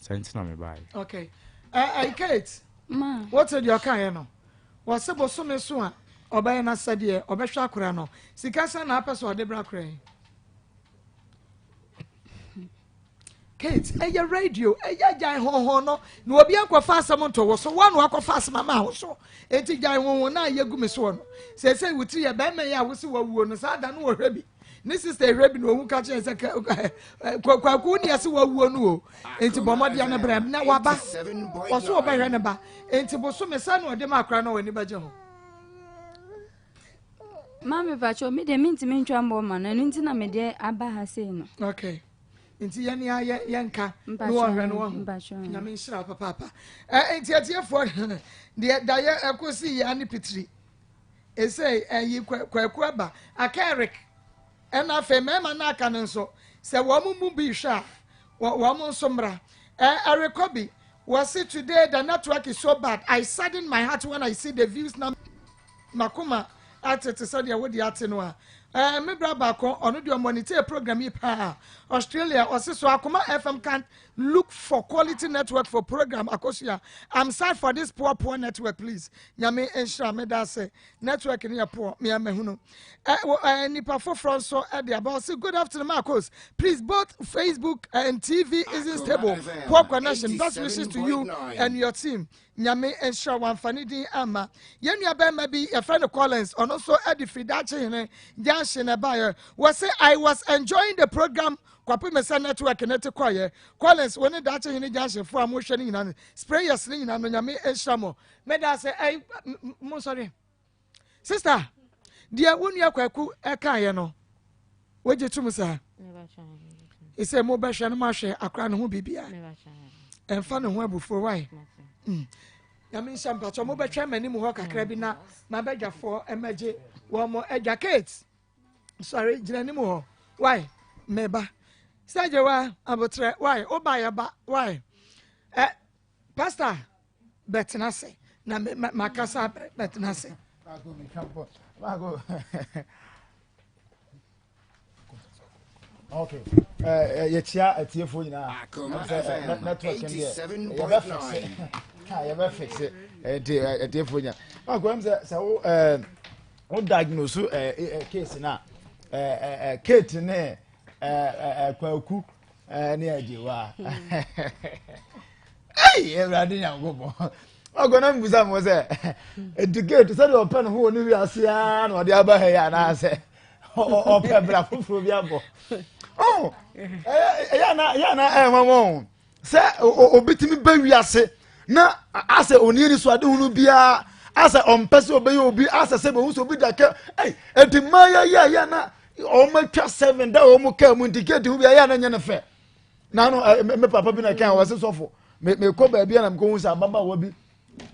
sɛ nti na mebaeɛ okay uh, uh, kate ma wote deɛ ɔkaeɛ no wɔse bosome so a ɔbɛyɛ no sɛdeɛ ɔbɛhwɛ akora no sika sɛ na apɛ sɛ ɔde bra kora yi kate ɛyɛ radio ɛyɛ gyae honhon no na obi akɔfa asɛm nto wo so wɔn na wakɔfa asɛm ama wo so eti gyae honhon na yɛgu me soɔ no sɛ sɛ wotiri yɛ bɛrima yi a wosi wɔwuo no saa da no wɔhwɛ bi ne sista ehwɛ bi na ohun ka kyerɛ sɛ kwaku ni ɛsɛ wawuo no o nti bɔ mmɔdeɛ no brɛ na waba ɔso ɔbɛhwɛ ne ba nti boso me sɛ na ɔde ma akora na ɔwɔ ani bɛgye ho. maame pakyɛ mi deɛ mintumi ntwa mbɔ ma no ɛno nti na mede aba ha sei no. okay nti yɛn ni ayɛ yɛn nka ne wɔn hwɛ ne wɔn ho nyame nhyira papaapa ɛɛ nti atiefoɔ deɛ dayɛ ɛkɔ si yɛ ani pitiri. ɛsei ɛyi kwaku aba aka eric ɛna afei mmarima no aka no nso sɛ wɔn mu bi hwɛ a wɔn nso mmra ɛrekɔ bi wɔsi today the network is so bad i sadden my heart when i see the views na makoma ate te sɛ deɛ wode ate no a ɛɛ me bra baako ɔno deɛ ɔmɔ ne tie program yi paa australia ɔsi so akoma fm can't Look for quality network for program akosua I'm sad for this poor poor network please nyame nhyira me da ase network ne yɛ poor me ama hunu eh nipa foforɔ nso ɛde aba ɔsi good afternoon Marcos please both Facebook and TV isn't stable poor connection best wishes to you and your team nyame nhyira wamfa ne din ama yɛn nua bɛrima bi yɛfrɛ no Collins ɔno nso ɛde firi daakye hene gyanhye na ɛbaeɛ wɔ se I was enjoying the program Kwapem Mensah Network ne te kɔeɛ. Collins wo ne Daakye Hene Junction foɔ a mo hwɛ no nyina no sprayers no nyina no Nyame nhyira mo. Meda ase ɛy mo nsɔre. Sister deɛ wo nua Kwaku ɛkaeɛ no wogye tom saa. Ɛsɛ mo bɛhwɛ no mo ahwɛ akora no ho bibia. Ɛmfa no ho abufuo wae. Mm. Nyame nhyɛ mpatɔ mo bɛtwɛn m'anim hɔ kakra bi na mabɛdwafoɔ ɛmɛgye wɔn mo adwa Kate. sɔre gyina anim hɔ wae meba sɛgye wa abotrɛ wae woba yɛba wae ɛ pasta bɛtena ase na makasa bɛtena ase Okay. Uh, yɛkyia atiefoɔ nyinaa network deɛ yɛbɛfixe yɛbɛfixe nti atiefoɔ nyinaa makoam sɛ sɛ wo Wo diagnose eh, eh, case na eh, eh, eh, Kate ne eh, eh, eh, Kwaku eh, ne Ajewa. Hey, Awurade Nyankopɔn. Ɔgɔna mbusa mo sɛ educate sɛdeɛ ɔpɛ ne ho wɔ ne wiase ara na ɔde aba ha yi anaasɛ ɔpɛ bra foforɔ bi abɔ. Oh, ɛyɛ na ɛyɛ na ɛnwanwa o. sɛ obi tumi ba wiase na asɛ oni ani so adehunu biara asɛ ɔmpɛ sɛ ɔbɛyɛ obi asɛ sɛ bɛhu sɛ obi da kɛ ɛy ɛdi mma yɛyɛ yɛ na wɔn atwa seven da wɔn kaa mu nti gate ho bi ayɛ na nyɛ ne fɛ na no me papa bi na kan wɔ se sɔfo mekɔ baabi a na mekɔhu sɛ ababaawa bi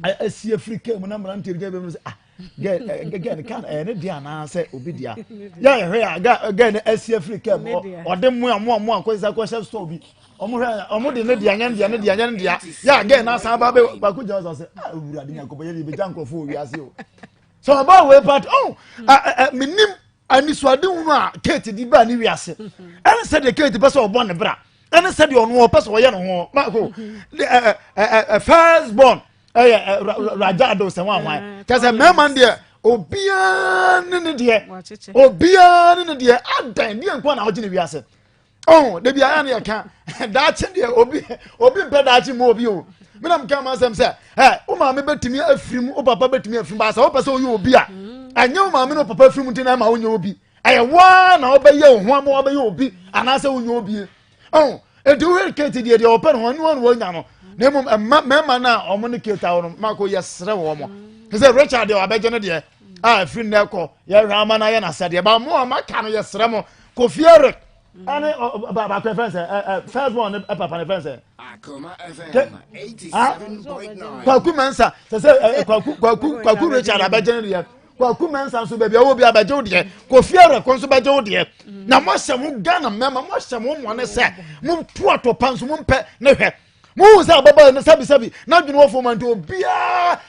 asi afiri kaa mu na mmerante bi gyina mu sɛ ah girl eh, eh, girl kan ɛyɛ eh, ne deɛ anaasɛ obi deɛ yɛ ɛhwɛ a girl no asi afiri kaa mu ɔde mmoa mmoa mmoa nkɔsisa kɔhyɛ store bi wɔn hwɛ wɔn de ne deɛ nyɛ ne deɛ ne deɛ nyɛ ne deɛ yɛ a girl no asan ba bɛ baako gyina sɔ sɛ ah owura de nyankopɔ yɛ de ebi gya nkorɔfo wɔ wiase o sɛ ɔbaa wei pati oh, ɔn mi nim anisoade hunu a kate di baa ne wiase ɛne sɛ deɛ kate pɛ sɛ ɔbɔ ne bra ɛne sɛdeɛ ɔno ɔpɛ sɛ ɔyɛ ne ho mako first born ɛyɛ raja ado sɛ ho ahwan mm, kyɛ sɛ mmarima no deɛ obiara ne ne deɛ obiara ne ne deɛ adan deɛ nkoa na ɔgye ne wiase ɔho de bi ayɛ ne yɛka daakye deɛ obi obi mpɛ daakye mu obi o mena meka ma asɛm sɛ ɛ wo maame bɛtumi afiri mu wo papa bɛtumi afiri mu baasɛ wopɛ sɛ woyɛ obi a mm. ɛnyɛ wo maame ne wo papa afiri mu nti na ɛma wonyɛ obi ɛyɛ waa na ɔbɛyɛ wo ho ama ɔbɛyɛ obi anaasɛ wonyɛ obie ɔn nti wohwɛ kate deɛ deɛ ɔpɛ no ho ɛnoa no wɔnya no na mmom ɛma mmarima no a wɔn ne kate awo no mako yɛserɛ wɔn mo te sɛ richard deɛ wabɛgye no deɛ a ɛfiri nnɛ kɔ yɛhwɛ ama no ayɛ no asɛdeɛ ba mo a maka no yɛserɛ mo kofi eric ɛne baako ɛfɛn sɛ first born ne papa ne fɛn sɛ kwaku mɛnsa sɛ sɛ kwaku kwaku kwaku richard abɛgye no deɛ kwaku mɛnsa nso baabi a ɔwɔ bi a bɛgye wo deɛ kofi awurɛkɔ nso bɛgye wo deɛ na moahyɛ mo ghana mmarima moahyɛ mo mmɔne sɛ monto atɔpa nso mompɛ ne hwɛ mohu sɛ ababaa no sɛbisɛbi n'adwene wɔ fam nti obiaa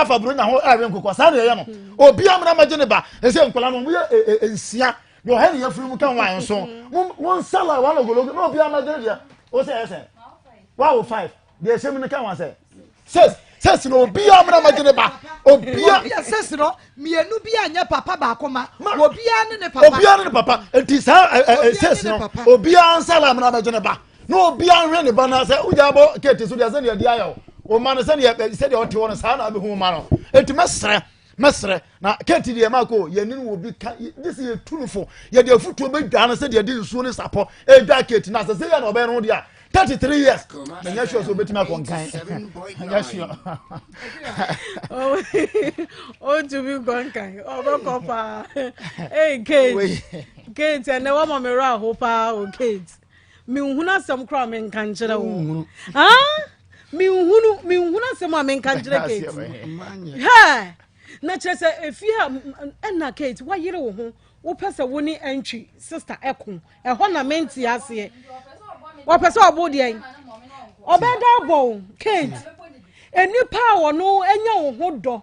afa buro nya ho ɛwe nkokɔ saa na ɛyɛ no obiaa mmena mɛgye ne ba ɛsɛ nkɔla no moyɛ e, e, e, nsia deɛ ɔhɛ ne yɛfiri mu ka ho ayɛ nso monsala wɔn ogologo na obiaa mɛgye ne deɛ wo sɛ ɛsɛ wawo five deɛ ɛhyɛ mu no ka wa sɛ sɛs sɛs na obiara mmerɛ ma gye ne ba obiara obiara sɛs no mmienu bi a nyɛ papa baako ma obiara ne ne papa obiara ne ne papa nti saa ɛ ɛ sɛs no obiara nsa la mmerɛ ma gye ne ba na obiara nhwɛ ne ba na sɛ wogya bɔ keeti so deɛ sɛdeɛ ɛde ayɛ o ɔma no sɛdeɛ sɛdeɛ ɔte hɔ no saa na abɛhu ma no nti mɛsrɛ mɛsrɛ na kate deɛ maako yɛne no wɔ bi ka gye sɛ yɛtu no fo yɛde afotuo bɛdwa no sɛdeɛ de nsuo ne sapɔ ɛdwa kate no asɛ sɛ yɛ na ɔbɛyɛ no ho deɛ a 33 years na nyɛ sure sɛ ɔbɛtumi akɔ nkan nyɛ sure ɔtumi nkɔ nkan ɔbɛkɔ paa ei kate kate ɛnɛ wɔma me werɛ aho paa o kate menhunu asɛm koraa menka nkyerɛ wo menhunu menhunu asɛm a menka nkyerɛ kate hɛ na kyerɛ sɛ efie a ɛna kate wayere wo ho wopɛ sɛ wo ne antwi sista ɛko ɛhɔ na mente aseɛ wɔpɛ sɛ ɔbo deɛn ɔbɛda abɔ wo kate nnipa a wɔno anya wo ho dɔ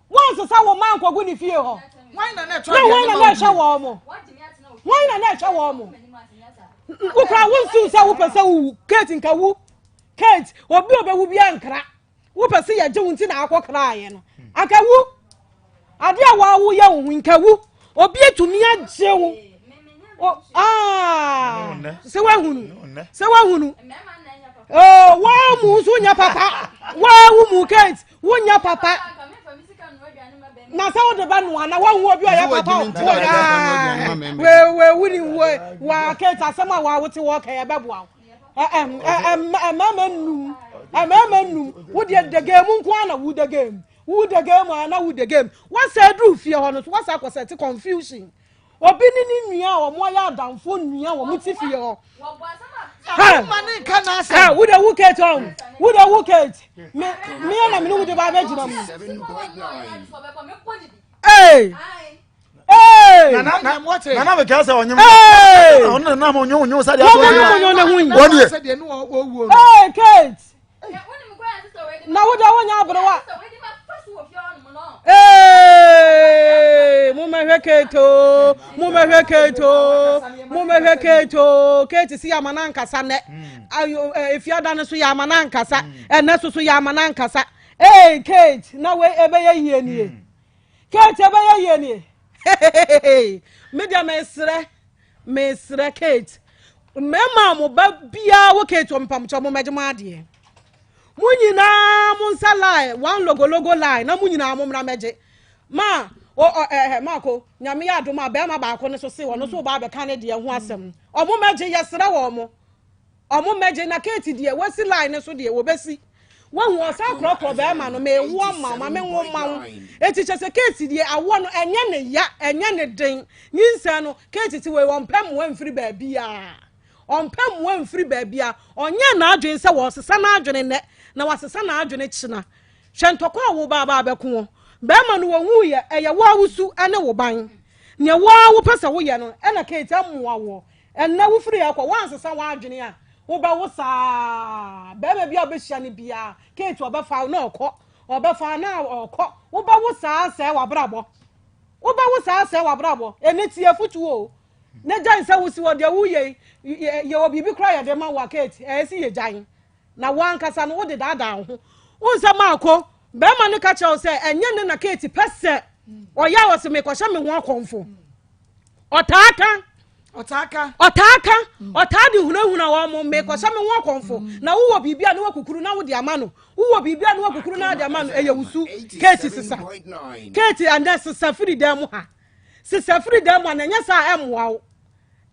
wɔnsesa wo mma nkɔgu ne fie hɔ na wɔn na na ɛhwɛ wɔn mo wɔn na na ɛhwɛ wɔn mo wokura wo nsu sɛ wopɛ sɛ wowu kate nka wu kate obi obewu bi ankara wopɛ sɛ yɛgye wo nti na akɔ kraayɛ no anka wu adeɛ a wɔawo yɛ wo ho nka wu obi atumi agye wo sɛ woahunu sɛ woahunu wɔn mu nso nyɛ papa wɔn mu kate Wonya papa. Na sɛ wode ba noa na woahu obi ɔyɛ papa wewe woni wo wɔakɛt asɛm a wɔawote wɔka yɛbɛboa wo ɛmɛɛmɛ num ɛmɛɛmɛ num wodeɛ degee mu nko a na wodegee mu wodegee mu a na wodegee mu wasɛ aduru fie hɔ no so wasɛ akɔsɛ te confusion Obi ne ne nua a wɔn ayɛ adamfo nua wɔn ti fie hɔ. Wo de wo kate ɔn wo de wo kate me me yɛ na me ne wo de ba abɛ gyina mu. Ee. nana bɛ kɛsɛ ɔnyɛ mu ɔno nana mo nyɛ onyɛ sɛ deɛ ɔnyɛ onyɛ ne ho yi wɔn deɛ. Ee kate. na woda wonya aberewa momɛhwɛ kate o momɛhwɛ kate o momɛhwɛ kate o kate si yɛama no ankasa nnɛ efiada no so yɛama no ankasa ɛnɛ so so yɛama no ankasa ee kate na wei ɛbɛyɛ yie nie Kate ɛbɛyɛ yie nie me deɛ mesrɛ mesrɛ Kate mmarima a mo ba biara wɔ Kate wɔ mpamokyɛ mo mmɛgye mo adeɛ mo nyinaa mo nsa line one logologo line na mo nyinaa mo mmra mmɛgye ma o ɔ ɛɛ eh, eh, maako nyame yɛ adom a bɛrima baako no so se wɔn nso ba abɛka ne deɛ ho asɛm wɔn mmɛgye yɛsrɛ wɔn mo. ɔmo mɛgye na kate deɛ wasi line no so deɛ wɔbɛsi wahu ɔsan korɔkorɔ bɛrima no mewoɔ ma wo ma menwo ma wo eti kyɛ sɛ kate deɛ awoɔ no ɛnyɛ ne ya ɛnyɛ ne den nyinsɛn no kate ti wei ɔmpɛ mmoa mfiri baabiaa ɔmpɛ mmoa mfiri baabiaa ɔnyɛ n'adwene sɛ wɔsesa n'adwene nnɛ na wasesa n'adwene kyena hwɛ ntɔkwa a wo baabaa bɛko wɔ bɛrima no wɔhu yɛ ɛyɛ wo a wosu ɛne wo ban nea wo a wopɛ sɛ woyɛ no ɛna kate amoa woɔ Ɛnnɛ wofiri ha kɔ, woansesa w'adwene a, wobɛwo saa. Barima bi a wobɛhyia no biara, Kate ɔbɛfa wo na ɔkɔ, ɔbɛfa na ɔkɔ. Wobɛwo saa sɛe w'abrabɔ. Wobɛwo saa sɛe w'abrabɔ. Ɛnɛ tie afotuo o. Ne gyan sɛ wosi wɔ deɛ woyɛ yi, yɛwɔ biribi koraa yɛde ma wo a, Kate, ɛyɛ si yɛ gyan. Na woankasa no wode daadaa wo ho. Wohu sɛ maako, barima no ka kyerɛ wo sɛ ɛnyɛ ne na Kate pɛ sɛ ɔyɛ a ɔse mekɔhyɛ me ho akɔmfo. ɔtaa ka ɔtaa ka ɔtaa ka mm. ɔtaa de hunahuna wɔn mo mekɔ sɛ me ho akɔnfo mm. na wowɔ biribi a ne wakukuru na wode ama no wowɔ biribi a ne wakukuru na wode ama no ɛyɛ wusu keeti sesa keeti ɛnɛ sesa firi dan mu ha sesa firi dan mu ha na ɛnyɛ saa ɛmmoa wo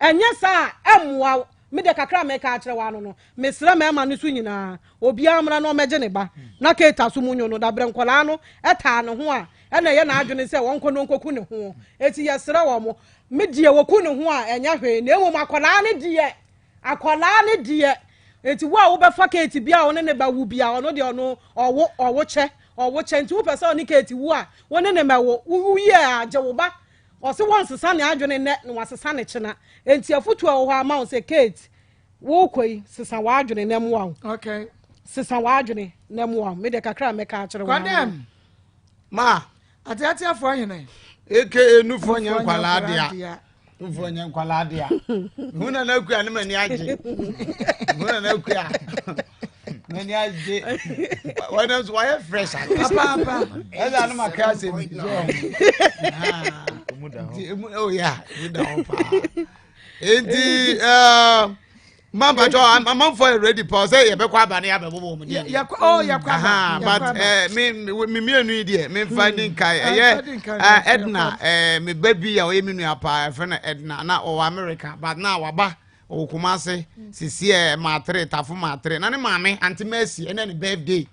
ɛnyɛ saa ɛmmoa wo Me deɛ kakra a mɛka akyerɛ waa no no, mesrɛ mɛɛma no so nyinaa, obiara mmra na ɔmɛgye ne ba, na Keita so munyo no, dabrɛ nkwadaa no taa ne ho a, ɛna ɛyɛ n'adwene sɛ ɔnkɔ na ɔnkɔku ne ho, eti yɛsrɛ wɔn, me deɛ wɔku ne ho a ɛnyɛ hwee, na mmom akwadaa no deɛ, akwadaa no deɛ, eti wo a wobɛfa Kate bi a ɔne ne ba wu bi a, ɔno deɛ ɔno ɔwo, ɔwo kyɛ, ɔwo kyɛ, nti wopɛ sɛ ɔne Kate wu a, wo ne ne mɛwo, wo wuiɛ a gye wo ba, Ɔse wɔnsesa ne adwene nnɛ na wasesa no kyena. Enti afutu a ɛwɔ hɔ a ma wo sɛ Kate wokɔ yi sesa w'adwene na mmoa wo. Okay. Sesa w'adwene na mmoa wo. Me deɛ kakra a mɛka akyerɛ wo. Kwadɛm. Ma. Ateateafoɔ hene. Aka nufoɔ nyɛ nkwalaa dea. Nufoɔ nyɛ nkwalaa dea. Hu na na akua ne m'ani agye. Hu na na akua. n'ani agye wɔn nso wɔyɛ fresh ano papaapa ɛdi ano ma kra sɛ mi sɛ ɔmo nti emu ɛwɔ yɛ a emu da hɔ paa nti ɛɛ mampatɔ amanfoɔ yɛ ready pɔ sɛ yɛbɛkɔ aba ne yɛabɛbɔ wɔ mu deɛ yɛkɔ oh yɛkɔ aba but ɛɛ eh, me me mmienu yi deɛ me nfa hmm. di nkae eh, ɛyɛ ɛɛ eh, ɛdina ɛɛ me ba bi a ɔyɛ me nua paa ɛfɛ no ɛdina na ɔwɔ america but na waba. ɔwɔ kumase sisi ɛ maatere tafo maatere na ne maame ante mercy ɛnɛ ne birthday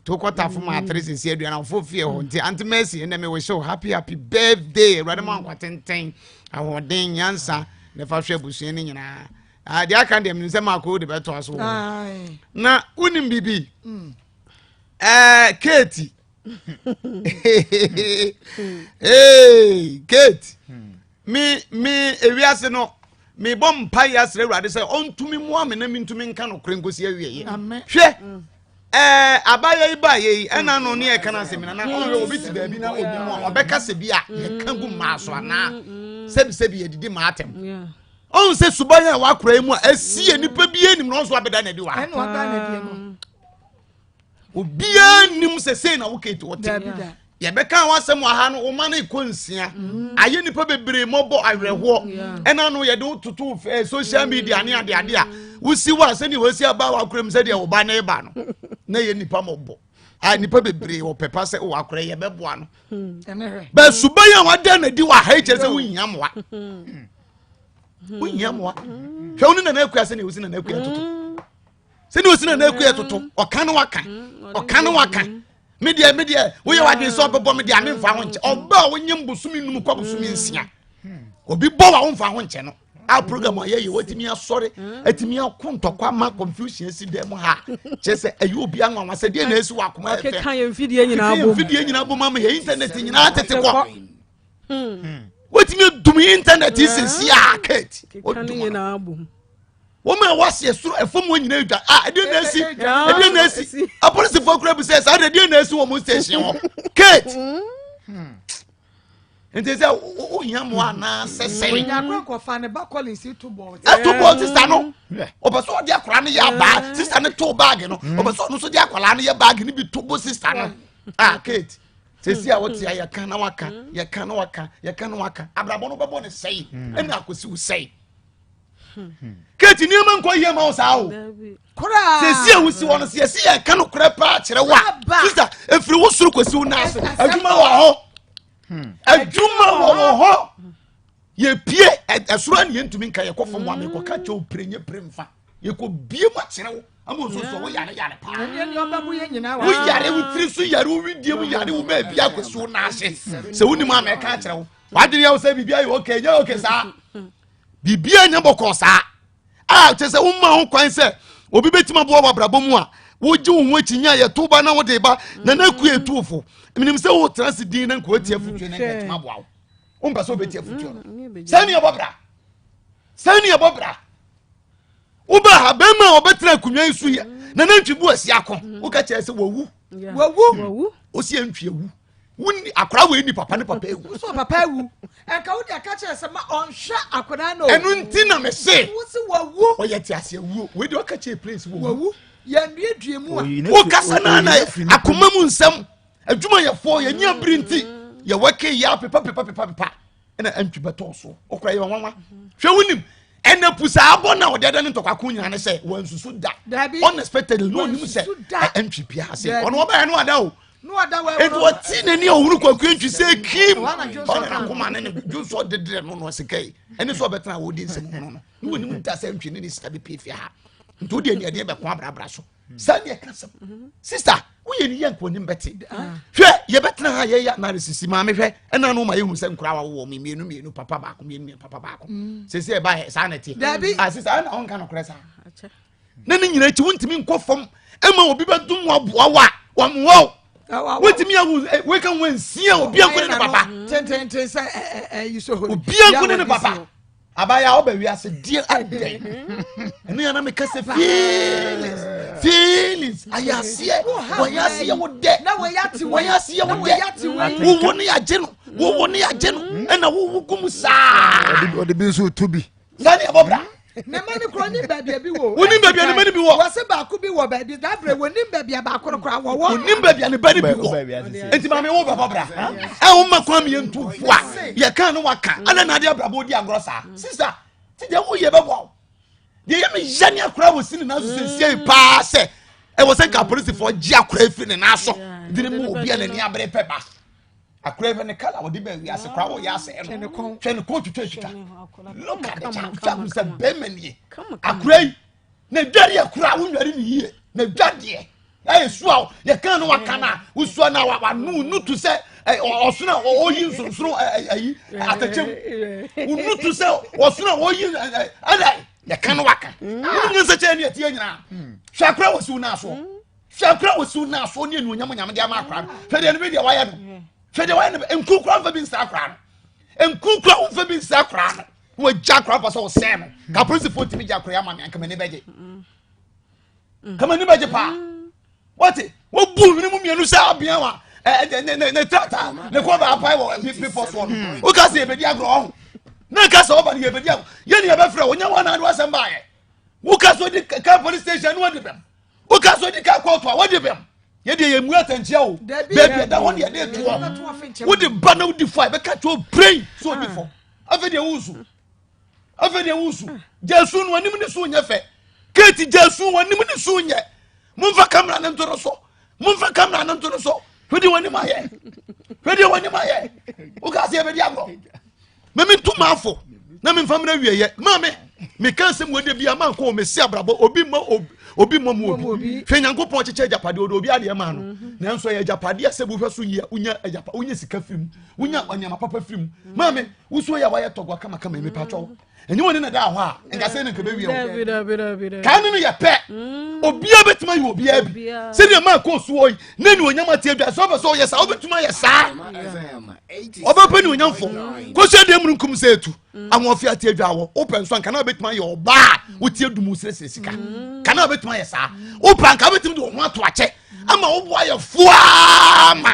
to kɔ tafo maatere sisi aduane afo fie hɔ nti ante mercy ɛnɛ mi wish you happy happy birthday awurade mu ankwa tenten ahoɔden nyansa na ɛfa hwɛ abusua ne nyinaa ah, deɛ aka deɛ menim sɛ maako de bɛtoa so wɔ na wonim biribi ɛɛ keeti hey kate hmm. me me ewiase no mebɔ mpaeɛ asrɛ awurade sɛ ɔntumi mmoa me na mentumi nka nokorɛ nkɔsi awieɛ hwɛ mm. eh, abayɛ yi baayɛ yi ɛna no ne ɛka no asɛm na ɔhwɛ obi te baabi na obi mu a ɔbɛka sɛ bi a mm. yɛka gu mmaa so anaa mm, sɛbisɛbi yɛdidi maa atɛm ɔhu sɛ suban a wakora yi mu a ɛsi yɛ nipa bi anim na ɔnso abɛda na adi wa obiara nnim sɛ sei na wo kate wɔte yɛbɛka ho asɛm aha no woma no ɛkɔ nsia mm. ayɛ nnipa bebree mmɔbɔ awerɛhoɔ mm, ɛna no yɛde wototo eh, social media ne adeade a wosi wo a sɛdeɛ wɔasi aba wakora mu sɛdeɛ woba ne ba no na yɛ nnipa mmɔbɔ a nnipa bebree wɔpɛ pa sɛ wakora yɛbɛboa no mm. bɛsuba yi a wada na di wɔ aha yi kyerɛ sɛ wohia mmoa wohia mmoa hwɛ wo ne nana akua sɛdeɛ wosi nana akua toto sɛdeɛ ɔsi na n'aku yɛ toto ɔka ne waka mm, ɔka ne waka me deɛ me deɛ woyɛ w'adwene sɛ ɔbɛbɔ me deɛ ame mfa ho nkyɛ ɔba a wonyɛ mbosome num kɔ bosome nsia obi bɔ wa womfa ho nkyɛ no a program ayɛ yɛ watumi asɔre mm. atumi ako ntɔkwa ama confusion asi dɛ mu ha kyerɛ sɛ ɛyɛ obi anwanwa sɛ deɛ na ɛsi wɔ akoma ɛfɛ mfidie nyinaa bom ama yɛ internet nyinaa tete kɔ hmm. watumi adum internet sisi a kate ɔdum wɔn a wɔaseɛ soro ɛfam wɔn nyinaa dwa a ɛdeɛ na esi ɛdeɛ na esi apolisifoɔ kura bisɛ saa de ɛdeɛ na esi wɔn station hɔ kate hmm. nti sɛ o hia mu anaasɛ sɛn. nyakura kɔfa ne ba kɔlin si to bɔɔl. ɛto bɔɔl sista no ɔbɛ sɛ ɔde akwaraa no yɛ abaa hmm. sista no to baagi no ɔbɛ hmm. sɛ ɔno nso de akwaraa no yɛ baagi no bi to bo sista no ah kate sɛsi a wote a yɛka na waka yɛka na waka yɛka na waka abrabɔ no bɛbɔ ne sɛe ɛna akosi wo sɛe kate nneɛma nkɔ yie ma wo saa o sɛsi a wosi hɔ no sɛ yɛsi yɛ ka no korɛ paa kyerɛ wo a sista ɛfiri wo soro kɔsi wo naa so adwuma wɔ hɔ adwuma wɔ wɔ hɔ yɛpie ɛsoro a ne yɛntumi nka yɛkɔ fam wa mekɔka kyɛ wo pire nyɛ pire mfa yɛkɔbie mu akyerɛ wo ama ɔsɔsɔ wo yare yare paa wo yare wo tiri so yare wo widie mu yare wo baabi akɔsi wo naa ase sɛ wonim a mɛka akyerɛ wo wadwene yɛ wo sɛ biribi ayɛ okay nyɛ okay saa biribi a nyɛ bɔkɔɔ saa a kyɛ sɛ woma ho kwan sɛ obi bɛtumi aboa wɔ abrabɔ mu a wogye wo ho akyi nya yɛto ba na wode ba na na ku ɛtuofo menim sɛ wotena se din na nkoatia fotuo no ɛtumi aboa wo wompɛ sɛ wobɛtia fotuo no sɛ ne ɛbɔ bra sɛ ne ɛbɔ bra wobɛ ha bɛrima a ɔbɛtena akonnwa yi so yɛ na na ntwibu asi ako woka kyerɛ sɛ wawu wawu ɔsi ɛntwi awu wonni akora wei ni papa ne papa awu so papa awu ɛnka wode aka kyerɛ sɛ ma ɔnhwɛ akora no ɛno nti na mese wosi wawu ɔyɛ te ase awuo wei de ɔka kyerɛ place wawu yɛnnuadua mu a wokasa no ana akoma mu nsɛm adwumayɛfoɔ yɛnyɛ bere nti yɛwɔke yɛ apepa pepa pepa pepa ɛna antwi bɛtɔɔ so ɔkora yɛ ɔwanwa hwɛ wonim ɛna pusa abɔ na ɔde ɛdɛ ne ntɔkwako nyina ne sɛ wɔnsusu da unexpected no onim sɛ ɛntwi pia ase ɔno ɔbɛyɛ no ada o nti ɔte n'ani a ɔhunu kwaku ntwi sɛ kim ɔne nakoma ne ne dwo so ɔdedeɛ no no ɔsekai ɛne sɛ ɔbɛtena a wɔdi nsɛm mu no no ne wɔnim da sɛ ntwi ne ne sika bɛpie fie ha nti wode aniadeɛ bɛko abrabra so saa ne ɛka sɛm mhm. sista woyɛ ne yɛ nkɔnim bɛte ah. hwɛ yɛbɛtena ha yɛyɛ analysis maame hwɛ ɛna no ma yɛhu sɛ nkora wa wowɔ me mmienu mmienu papa baako mmienu mmienu papa baako mm. sɛ sɛ ɛba saa na ɛte dabi ah, sista ɛna ɔnka nokorɛ saa na ne nyina akyi wontumi nkɔ fam ɛma obi bɛdom waboa wo a wɔmmoa wo wotumi ahu eh, weka ho ansia obia nkone ne papa obia nkone ne papa abaya a ɔbɛ wiase deɛ ɛdɛn ɛno yɛn na meka sɛ feelings feelings ayaseɛ wɔyaseɛ wo dɛ wɔyaseɛ wo dɛ wowo ne yagye no wowo ne yagye no ɛna wowo gu mu saa ɔde bi nso to bi saa ne ɛbɔ bra ne mma no kura onim baabi ebi wɔ. onim baabi a ne mma no bi wɔ. wɔsi baako bi wɔ baabi dabere onim baabi a baako no kura wɔwɔ. onim baabi a ne ba no bi wɔ. Enti maame wo bɛbɔ bra. Ɛ wo mma kwan mi yɛn tu fo a yɛ kan no wa ka. Ada na ade abrabɔ di agorɔ saa. Sisa ti deɛ wo yɛ bɛbɔ awo. Deɛ yɛ mi yɛ ni akora wɔ si ne nan so sɛ nsia yi paa sɛ ɛwɔ sɛ nka apolisifoɔ gye akora efiri ne nan so. Dini mu obi a n'ani abere pɛ ba. Akora efiri ne kala wɔde bɛn wiase kora wɔ yɛ asɛ ɛno. Twɛ ne kɔn twitwa twitwa. Look at the child. Fɛ ahun sɛ bɛrima nie. Akora yi. na dwa deɛ koraa wonware ne yie na dwa deɛ ɛyɛ su a yɛka no waka no a wosua no wano no tu sɛ ɔsono a ɔyi nsonsoro ayi atɛkyɛm wono tu sɛ ɔsono a ɔyi ɛdɛ yɛka no waka wonyɛ sɛ kyɛɛ ne atie nyinaa hwɛ akora wɔ siw no asoɔ hwɛ akora wɔ siw no asoɔ ne anuonyam nyame de ama akora no hwɛ deɛ no bi deɛ wayɛ no hwɛ deɛ wayɛ no nkukura mfa bi nsa akora no nkukura womfa bi nsa akora no wagya akora mpa sɛ ɔsɛn no ka hmm. polisifoɔ ntumi gya akora ama me anka m'ani bɛgye hmm. ka m'ani bɛgye paa hmm. wɔte wɔbu nwene mu mmienu sɛ abea wa ne trata ne kɔ baapae wɔ bepɔ soɔ no woka sɛ yɛbɛdi agorɔ ɔho na ka sɛ ɔba no yɛbɛdi agorɔ yɛne yɛbɛfrɛ wɔnyɛ wɔn anaade wasɛm baayɛ woka sɛ odi ka police station no wɔde bɛm woka sɛ odi ka kɔɔto a wɔde bɛm yɛde yɛ mu atɛnkyia o baabi ɛda hɔ ne yɛde toɔ wode ba na wodi fɔ a ɛbɛka kyɛ o brain so odi fɔ afei deɛ wosu afei deɛ wosu gyasu no anim ne so nyɛ fɛ keeti gyasu wɔnim ne so nyɛ momfa kamera no nto no so momfa kamera no nto no so hwede wɔnim ayɛ hwede wɔnim ayɛ woka sɛ yɛbɛdi agorɔ meme nto maafo na memfa mena wieyɛ ma me meka nsɛm wɔde bia ma nkɔ mɛsi abrabɔ obi ma obi mmɔ mu obi hwɛ nyankopɔn kyekyɛ agyapadeɛ ɔde obi adeɛ maa no mhm. nanso ɛyɛ agyapadeɛ sɛ bohwɛ so yia wonya sika firi mu wonya nneɛma papa firi mu maame wosuo yɛ a wayɛ tɔgoa kamakama yi mepatwɔ wo ɛnyɛ wɔne na da hɔ a nka sɛ ne nka bɛwie wo kaa ne no yɛ pɛ mm. obiaa bɛtumi ayɛ obiaa bi sɛdeɛ ma kɔ suo yi ne ne onyam ateɛ dwa sɛ wobɛ sɛ ɔyɛ saa wobɛtumi ayɛ saa ɔbɛpɛ ne onyamfo kɔhyɛ deɛ munu nkum sɛ ɛtu mm. ahoɔfe ateɛ dwa wɔ wopɛ nso anka na wobɛtumi ayɛ ɔbaa wotie dumu serɛserɛ sika mm. ka na wobɛtumi ayɛ saa wopɛ anka wobɛtumi de wo ho ato akyɛ ama woboa yɛ foaa ma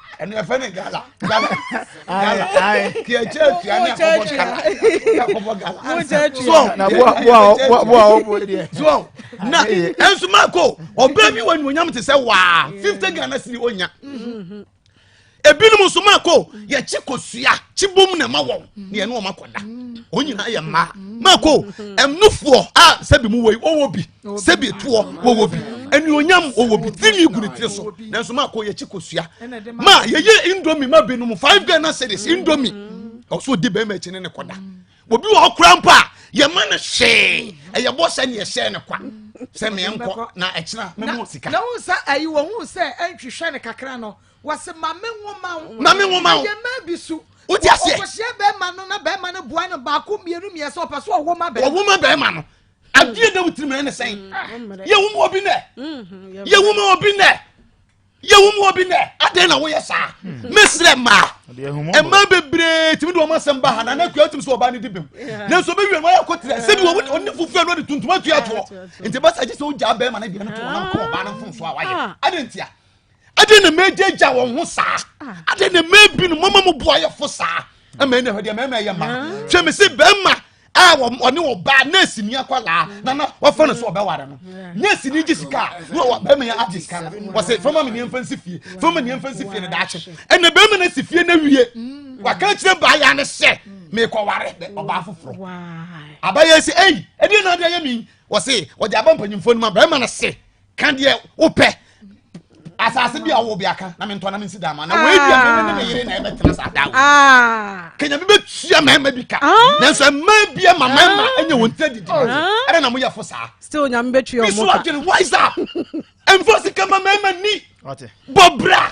ɛnu ɛfɛ ne gala gala gala kì í kyerɛ tia ní akɔbɔ gala akɔbɔ gala ansa so na bo a bo a bo a bo a o bo deɛ so na ɛnso maa ko ɔbɛn bi wɔ nyɔnyam ti sɛ waa fifty ghana sini o nya ebinom nso maa ko yɛ kyi ko sua kyi bom na ɛma wɔn ni ɛnu wɔn akɔda wɔn nyinaa yɛ mmaa maa ko ɛnufoɔ a sɛbi mu wɔ yi wɔwɔ bi. sɛbi toɔ wɔwɔ bi anuonyam wɔwɔ bi tiri gu ne tiri so nanso maa kɔ yɛkyi kosua maa yɛyɛ indomi ma binom five ghana series indomi ɔso di bɛrima akyi ne ne kɔda obi wɔ hɔ kora mpo a yɛma no hyee ɛyɛ bɔ sɛ ne yɛhyɛɛ no kwa sɛ meɛ nkɔ na ɛkyena memo sika na wo sɛ ayi wɔ ho sɛ ɛntwehwɛ no kakra no wɔse ma me nwoma wo ma me nwoma wo yɛ ma bi so wote aseɛ ɔkɔhyia bɛrima no na bɛrima no boa no baako mmienu mmiɛsɛ ɔpɛ so ɔwoma bɛrima ɔwoma bɛrima no adeɛ da wo tirim ɛne sɛn yɛwom wɔ bi nɛ yɛwom wɔ bi nɛ yɛwom wɔ bi nɛ adɛn na woyɛ saa mesrɛ mmaa ɛma bebree tumi de wɔn asɛm ba ha na na akua tumi sɛ ɔbaa no di bem nanso bɛwie no wɔyɛ kɔterɛ sɛbi wɔne fufuo no de tuntum atua toɔ nti bɛsa gye sɛ wogyaa bɛrima no deɛ no to ɔnam kɔ ɔbaa no mfomso a wayɛ adɛn ntia ɛde na mɛgyagya wɔn ho saa ɛde na mɛbi no mama mu boayɛfo saa ɛmɛ ɛna ɛdeɛ mɛma ɛyɛ ma hwɛ me se bɛrima a ɔne ɔbaa nurse ni akwadaa na na wafa no so ɔbɛware no nurse ni gye sika na ɔwɔ bɛrima yɛ agye sika no wɔsɛ fama mi ni nfa nsi fie fama ni nfa nsi fie no daakye ɛna bɛrima na si fie na wie waka kyerɛ baa ya ne sɛ mekɔ ware ɔbaa foforɔ abayɛ sɛ ɛyi ɛdeɛ na adeɛ yɛ mi wɔsɛ wɔde aba mpanyinfoɔ no ma bɛrima na se ka deɛ wopɛ asase bi a wɔwɔ bi aka na mentɔ na mensi daa ma na wei bi a mene ne me yere na ɛbɛtena saa daa wɔ kenya bi bɛtua mmarima bi ka nanso mmaa bi ama mmarima ɛnyɛ wɔn tira didi ɛdɛ na moyɛ fo saa still nyame bɛtua ɔmo ka bi so adwene wise up ɛmfa sika ma mmarima ni bɔ bra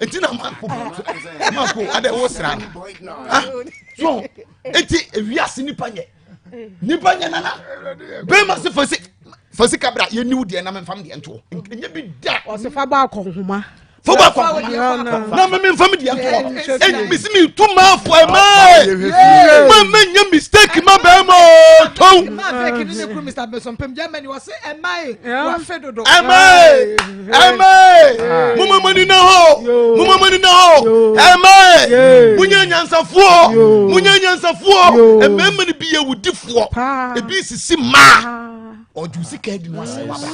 nti na maako maako adɛ wo sra no ha so nti ewiase nipa nyɛ nipa nyɛ nana bɛrima se fɔsi fɔsi kabra yɛ niw deɛ nam nfam deɛ ntoɔ nyɛ bi da ɔsi fa ba akɔ nhoma fo ba akɔ nhoma na mɛmɛ nfam deɛ ntoɔ ɛnyɛ mi si mi tu maa fɔ ɛ maa ɛ mɛ mɛ nyɛ mistake ma bɛɛ ma ɔ tɔw ɛ maa ɛ. Amen. Mama mani na ho. Mama mani na ho. Amen. Munya nyansafoɔ. Munya nyansafoɔ. Amen mani bi yɛ wudifoɔ. Ebi sisi maa. Ɔju sika edi mu asɛm abira.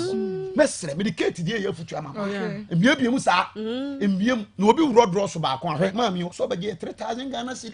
Mɛsrɛ mede keeti deɛ yɛ afutu ama ma. Mmea bie mu saa. Mmea mu na obi wurɔ dorɔ so baako ahwɛ. Maame o sɔ bɛgye three thousand Ghana cedi.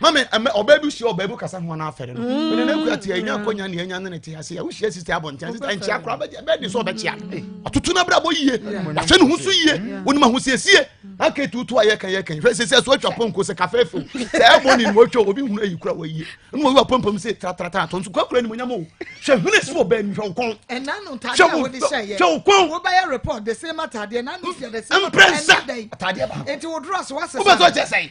mame ɛmɛ ɔbaa bi hyia ɔbaa bi kasa ho anaa fɛre no mm. mene n'akua te ɛnya akɔnya ne ɛnya ne ne te ase a wohyia sisi abɔnten sisi nkyia kora bɛɛ de sɛ ɔbɛkyia mm. ɔtoto no abrabɔ yie wahwɛ ne ho so yie mm. wonim ahosiesie aka tutu a yɛka yɛka hwɛ sɛ sɛ so atwa pɔnko sɛ kafe few sɛ ɛbɔ ne mu atwa obi hunu ayi kora wayie ɛnu wɔyi wa pɔmpɔm sɛ tratratara tɔn so kwakura ne mu nyam o hwɛ hene si wɔ bɛɛ ni hwɛ okɔn hwɛ okɔn wobɛyɛ report de se ma tadeɛ na ne fia de se ma tadeɛ na ne dɛn nti wodoro aso asesa wobɛtɔ kyɛ sɛn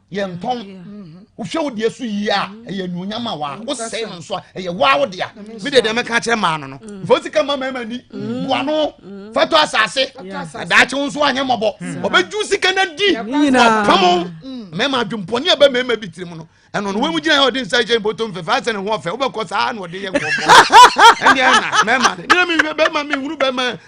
yɛntɔn wohwɛ wo deɛ so yie a ɛyɛ anuonyam a waa wosɛe no nso a ɛyɛ waa wo dea medeɛ deɛ mɛka kyerɛ maa no no mfa wo sika ma mmarima ni boa no fa tɔ asase daakye wo nso anyɛ mmɔbɔ ɔbɛdwu sika no di ɔpamo mmarima adwempɔne a ɛbɛ mmarima bi tirim no ɛno no wɔmu gyina yɛ ɔde nsa kyɛ mpoto mfɛfɛ asɛ ne ho ɔfɛ wobɛkɔ saa na ɔde yɛ nkɔbɔ ɛndeɛ na mmarima ne mehwɛ bɛrima mehunu bɛrima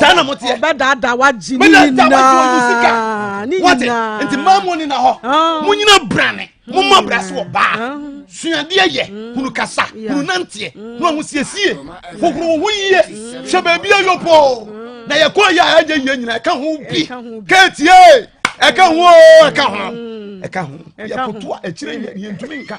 saa na mo teɛ ɔbɛdaadaa wagye ne nyinaa ne nyinaa nti mmaa mu ni na hɔ ah. mo nyina brane mo mɔ hmm. brɛ so wɔ baa ah. suadeɛ yɛ hmm. hunu kasa hunu nanteɛ hmm. na ɔmo siesie hohoro ho yie hwɛ baabi ayɔ poo na yɛ kɔɔ yɛ a ɛnyɛ yie nyina ɛka ho bi kɛɛtie ɛka ho ɛka ho ɛka ho yɛ kotoa akyire yɛ yɛntumi nka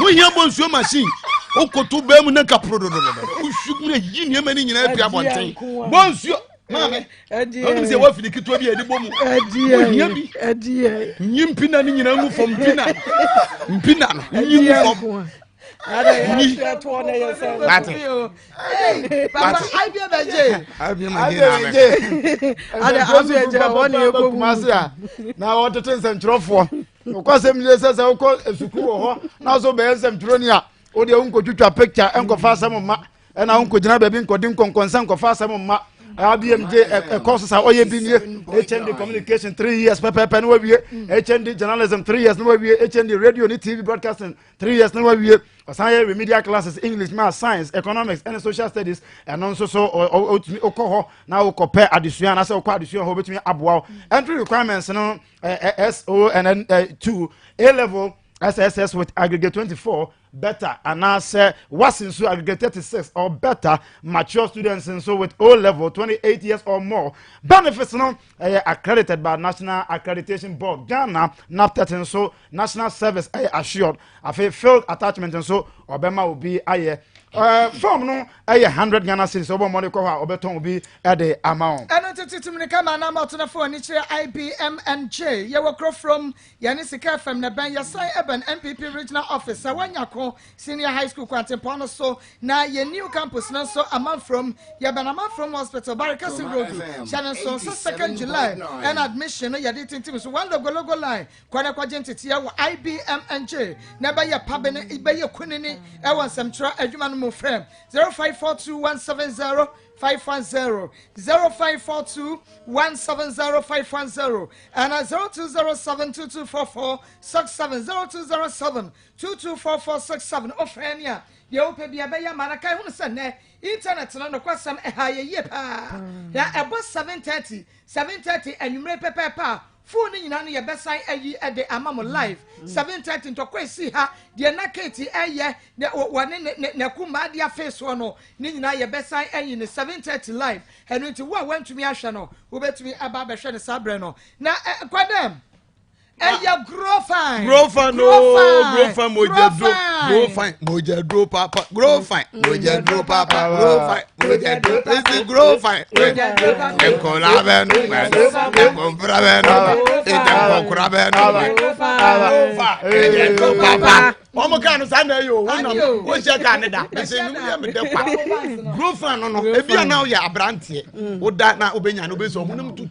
wohia bɔ nsuo machine wokoto baa mu na nka porododododo wohwi mu na yi nneɛma no nyinaa pia abɔnten bɔ nsuo maame ɔnim sɛ woafiri ketewa bi a ɛde bɔ mu wohia bi nyi mpina no nyinaa ngu fam mpina mpina no nyi ngu fam na wɔtete nsɛmtwerɛfoɔ wokɔ sɛm yie sɛ sɛ wokɔ sukuu wɔ hɔ na so bɛyɛ nsɛmtwerɛni a wode wonkɔtwitwa picture ɛnkɔfa asɛm mma ɛna wonkɔgyina baabi nkɔde nkɔnkɔnsɛ nkɔfa asɛm mma abm de ɛkɔ so sa ɔyɛ bi nie hnd communication three years pɛpɛpɛ ne wawie hnd journalism three years ne wawie hnd radio ne tv broadcasting three years na wawie ɔsan yɛ remedial classes english math science economics ɛne social studies ɛno nso so ɔtumi ɔkɔ hɔ na ɔkɔ pɛ adesua anasɛ ɔkɔ adesua hɔ ɔbɛtumi aboa wo entry requirements no so and then two a level sss with aggregate twenty four better anaasɛ wasi nso aggregate thirty six or better mature students nso with o level twenty eight years or more benefits no ɛyɛ accredited by national accreditation board ghana naptet nso national service ɛyɛ assured afei field attachment nso ɔbɛma obi ayɛ ɛɛ eh, fam no ɛyɛ hundred ghana series ɔbɔ mɔde kɔ hɔ a ɔbɛtɔn obi ɛde ama wɔn. ɛno tete tumuni ka maa nam ɔtena fo ani kyerɛ ibmnj yɛwɔ kuro from yɛne sika fam na bɛn yɛsan ɛbɛn npp regional office sɛ wɔnya ko senior high school kwantempɔn no so na yɛn new campus no nso amanfrom yɛbɛn amanfrom hospital barikasi road hyɛ ne nso nso second july ɛna admission no yɛde tintim so one logologo line Kɔ na kɔgye nteteɛ wɔ IBMNJ na ɛbɛyɛ pabe no bɛyɛ kunini ɛwɔ nsɛmtwerɛ adwuma no mu frɛ 0542170510 0542170510 ɛna 0207224467 0207224467 ɔfrɛ ni a deɛ wopɛ bi ɛbɛyɛ ma no kae hunu sɛ nnɛ internet no nokwasɛm ɛha yɛ yie paa na ɛbɔ 730 730 anwummerɛ pɛpɛɛpɛ a Full no nyinaa no yɛbɛsan ayi de ama mo live mm. seven thirty ntɔkwa esi ha deɛ na kate ɛyɛ wɔne ne ne ne kumaa de afei soɔ no ne nyinaa yɛbɛsan ayi ne seven thirty live ɛno nti wo a wantumi ahwɛ no wobɛtumi aba abɛhwɛ ne saa berɛ no na ɛkɔ dɛm ɛyɛ grow fine grow fine grow fine grow fine mogya duro grow fine mogya duro papa grow fine mogya duro papa grow fine. Esi grow fine. Nkola bɛ nu mɛ. Nkonfra bɛ nu mɛ. Ntɛnkɔkura bɛ nu mɛ. Papa. Wọ́n mu kaa no saa na eyi o, wọ́n nam wọ́n hyɛ kaa ne da. Bẹ́sẹ̀ ni wúyẹ́ mi dẹ́ pa. Grow fine no no, ebi a na yɛ aberanteɛ, o da na o bɛ nya na o bɛ sọ, ɔmo nam tutu.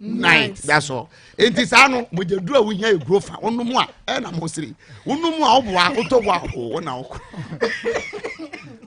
nine that's all nti saa no mogyaduru a wohia yɛ grofa wonom a ɛna mo sere wonom a woboa wotɔ boa o wona wokorɔ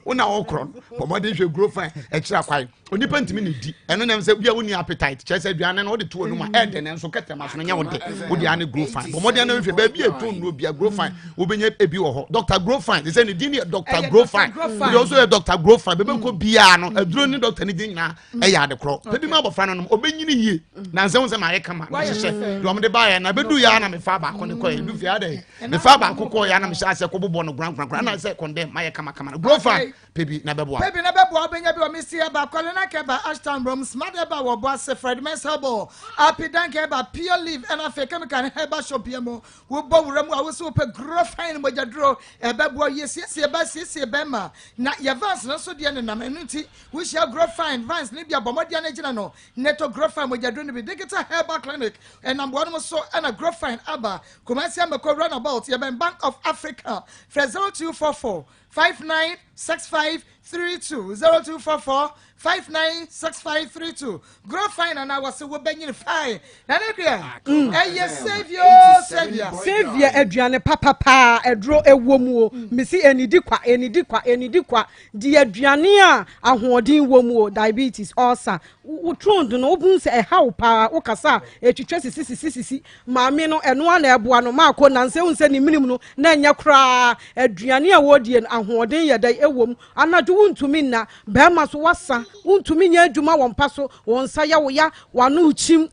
wona wokorɔ no bɔmmɔden hwɛ grofa ɛkyerɛ akwan onipa ntumi ne di ɛno nam sɛ bia wonni appetite kyerɛ sɛ aduane no wode to anom a ɛdɛ ne nso kɛtɛma so no nyɛ wo de wode ane grofa bɔmmɔden no hwɛ baabi a ɛto nnuo bia grofa wobɛnya ebi wɔ hɔ dr grofa te sɛ ne din yɛ dr grofa wode ɔso yɛ dr grofa bɛbɛkɔ biaa no aduro ne dr ne din nyinaa ɛyɛ ade korɔ pɛ bi ma abɔfra no nom ɔbɛnyini yie nansɛ wo sɛ maayɛ kama mehyehyɛ deɛ ɔmde baeɛ na bɛdu yɛ na mefa baako ne kɔɛ du fie adɛ mefa baako kɔɔ yɛ na mehyɛ asɛ kɔbobɔ no korankorankora na sɛ kɔndɛ mayɛ kamakama no guro fa pɛ bi na bɛboa pɛ bi na bɛboa wobɛnya bi wɔ mesi ɛba kɔlena ka ɛba ashtown brɔm smart ɛba wɔbɔ ase fred mɛsɛbɔ apidanka ɛba pure leaf ɛna afei kemika ne ɛba shop yɛ mu Wobɔ wura mu a wosi wopɛ guro fine no mogya duro ɛbɛboa yɛsiesie bɛ siesie bɛn ma na yɛ vans no nso deɛ nenam ɛno nti wohyia guro fine vans no bi a bɔmmɔdeɛ no gyina no ne to guro fine mogya duro no bi digital herbal clinic ɛnam boa no mo so ɛna guro fine aba kumasi amako runabout yɛbɛn bank of africa frɛ 0244 five nine six five three two zero two four four five nine six five three two grow fine and our say wobenyin fine na ne deɛ ah, ɛyɛ saviour saviour saviour aduane papapa ɛduro ɛwɔ mu o mm. mesi enidi kwa enidi kwa enidi kwa di aduane a ahoɔden wɔ mu o diabetes ulcer wotron do no wobun sɛ ɛha wo paa wokasa a etwitwa sisi sisi sisi Maame no, ɛno ara na ɛboa no ma akɔ nnansa. Ehu sɛ ne menem no na ɛnyɛ koraa. Aduane a ɔredie no, ahoɔden yɛ dɛn wɔ mu? Anadwo wontumi nna. Barima so wasa. Wontumi nyɛ adwuma wɔ mpa so. Wo nsa yɛ wo ya. W'ano rekyim.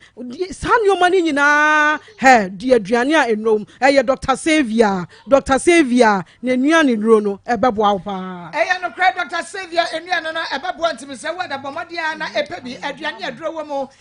Saa nneɛma no nyinaa. Hɛ! Di aduane a nnuro wom. Ɛyɛ Dɔkta Sylvia. Dɔkta Sylvia, n'anuane nnuro no, ɛbɛboa wo paa. Ɛyɛ nokorɛ, Dɔkta Sylvia anuane no ɛbɛboa. Ntumi sɛ wo a da bɔ mmɔden ara na ɛpɛ bi. Aduane a aduro wɔ mu.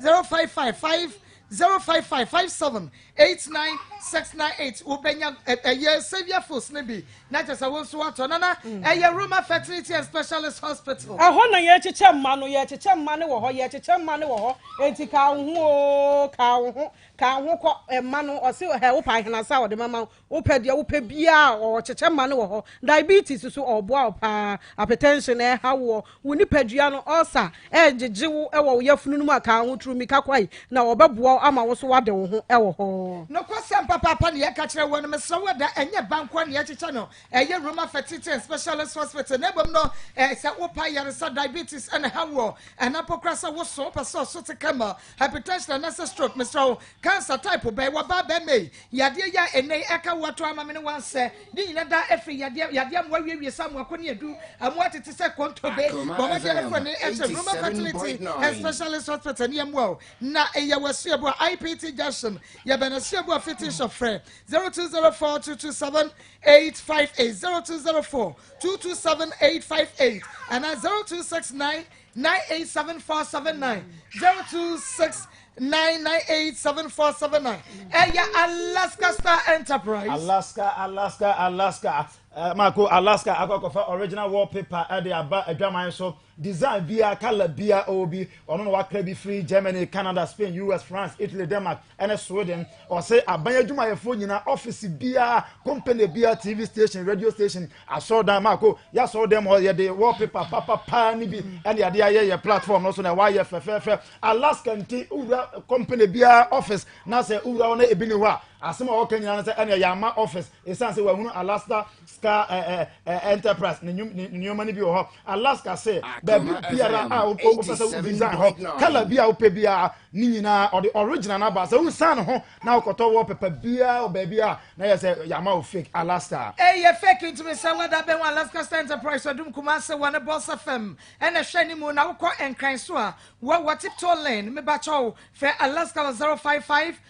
zero five five five zero five five five seven eight nine six nine eight wobɛnya ɛyɛ saviour foods ne bi na kyɛ sɛ wo nso watɔ nana ɛyɛ roma fertility and specialist hospital. ɛhɔ na yɛkyekyɛ mma no yɛkyekyɛ mma no wɔ hɔ yɛkyekyɛ mma no wɔ hɔ eti kaa wo ho oo kaa wo ho kaa wo ho kɔ mma no ɔsi hɛ wo paa hena sa ɔde mama Wopɛ deɛ wopɛ biaa ɔwɔ kyekyɛ ma no wɔ hɔ diabetes so ɔɔboa wo paa apetɛnhyen ɛɛha woɔ wo nipadua no ulcer ɛɛgyegye wo wɔ wo yafunu no mu a kaa ho turumika kwae na ɔbɛboa wo ama wo so woade wo ho wɔ hɔ. Nokwasɛm papaapa na yɛka kyerɛ woɔ no mesrɛ wo ɛda ɛnyɛ ba nkoa na yɛkyekyɛ no ɛyɛ Roma Fertility and Specialist Hospital na mmom no sɛ wopa ayaresa diabetes na ɛha woɔ ɛna mpo koraa sɛ woso wopɛ sɛ ɔso te camel Hypertension anaasɛ stroke, mesrɛ wo, cancer type bɛn, wɔbaa bɛmma yi, yadeɛ yi a ɛnnɛ yi ɛka woɔ to amamene wansɛ, ne nyina daa ɛfiri yadeɛ, yadeɛ amoa wiewie sɛ amoako ne adu, amoa tete sɛ kontobe, bɔ mmɔden ɛfrɛ ne ɛkyɛ Roma Fertility and Specialist Hospital ne ɛmoa wo, na yɛ wɔ Asuabua IPT Junction, yɛ bɛn Asuabua Fitting Shop, frɛ 0204 227 858, 0204 227 858, anaa 0269 Nine eight seven four seven nine zero two six nine nine eight seven four seven nine. Ẹ̀yà eh, Alaska Star Enterprise. Alaska Alaska Alaska eh, Mako Alaska akọkọfa original wallpaper ẹ̀dẹ̀ eh, aba ẹ̀dwaman so design bia colour bia ọwọ́ bi ọ̀nà wàkàrà bi free Germany Canada Spain US France Italy Denmark. ne Sweden. Ɔse aban adwumayɛfoɔ nyinaa, ɔfese biara, company biara, TV station, radio station, asɔrdan, maako, yɛ asɔrdan mu hɔ, yɛde wallpaper papapaa no bi ɛne yɛde ayɛ yɛ platform no so na ɛwɔ ayɛ fɛfɛɛfɛ. Alaska nti, wowura company biara office na sɛ wowura hɔ na ebi ni hɔ a, asɛm a wɔka nyinaa no sɛ ɛne yɛama office, ɛsiane sɛ wɔahunu Alaska sika ɛɛ ɛɛ enterprise ne ne nneɛma no bi wɔ hɔ alaska se ah, baabi biara a wopɛ wopɛ sɛ wo design hɔ kala bi a wopɛ biara ne nyinaa ɔde original no aba sɛ wosan ne ho na wokɔtɔ wɔ pɛpɛ biara wɔ baabi a na yɛ sɛ yɛama wo fake alaska ɛyɛ fake ntumi sɛ wada bɛn wɔ alaska star enterprise ɔdum kuma ase wɔ ne bɔsa fam ɛna hwɛ ne mu na wokɔ nkran so a wɔwɔ tiptoe lane mebakyɛw fɛ alaska wɔ 055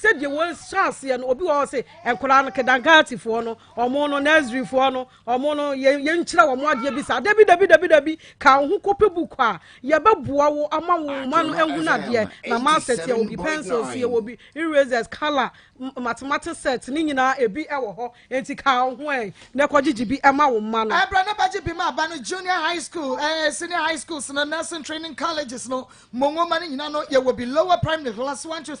Sɛdeɛ wei hyɛ aseɛ no obi wɔ hɔ se nkwadaa no kedangatifoɔ no ɔmo no nurseryfoɔ no ɔmo no yɛn yɛn kyerɛ wɔn adeɛ bi saa dabi dabi dabi dabi ka wo ho kɔpɛ book a yɛbɛboa wo ama wo mma no ehu no adeɛ na maasɛt yɛwɔ bi pencils yɛwɔ bi erasers colour mathematics set ne nyinaa ebi ɛwɔ hɔ enti ka wo ho ɛ na ɛkɔgyegye bi ɛma wo mma no. ɛbrɛ na bɛgye bi ma aba no junior high school ɛɛ eh, senior high schools no nursing training colleges no mo nwoma no nyinaa no yɛwɔ bi lower primary class one to three.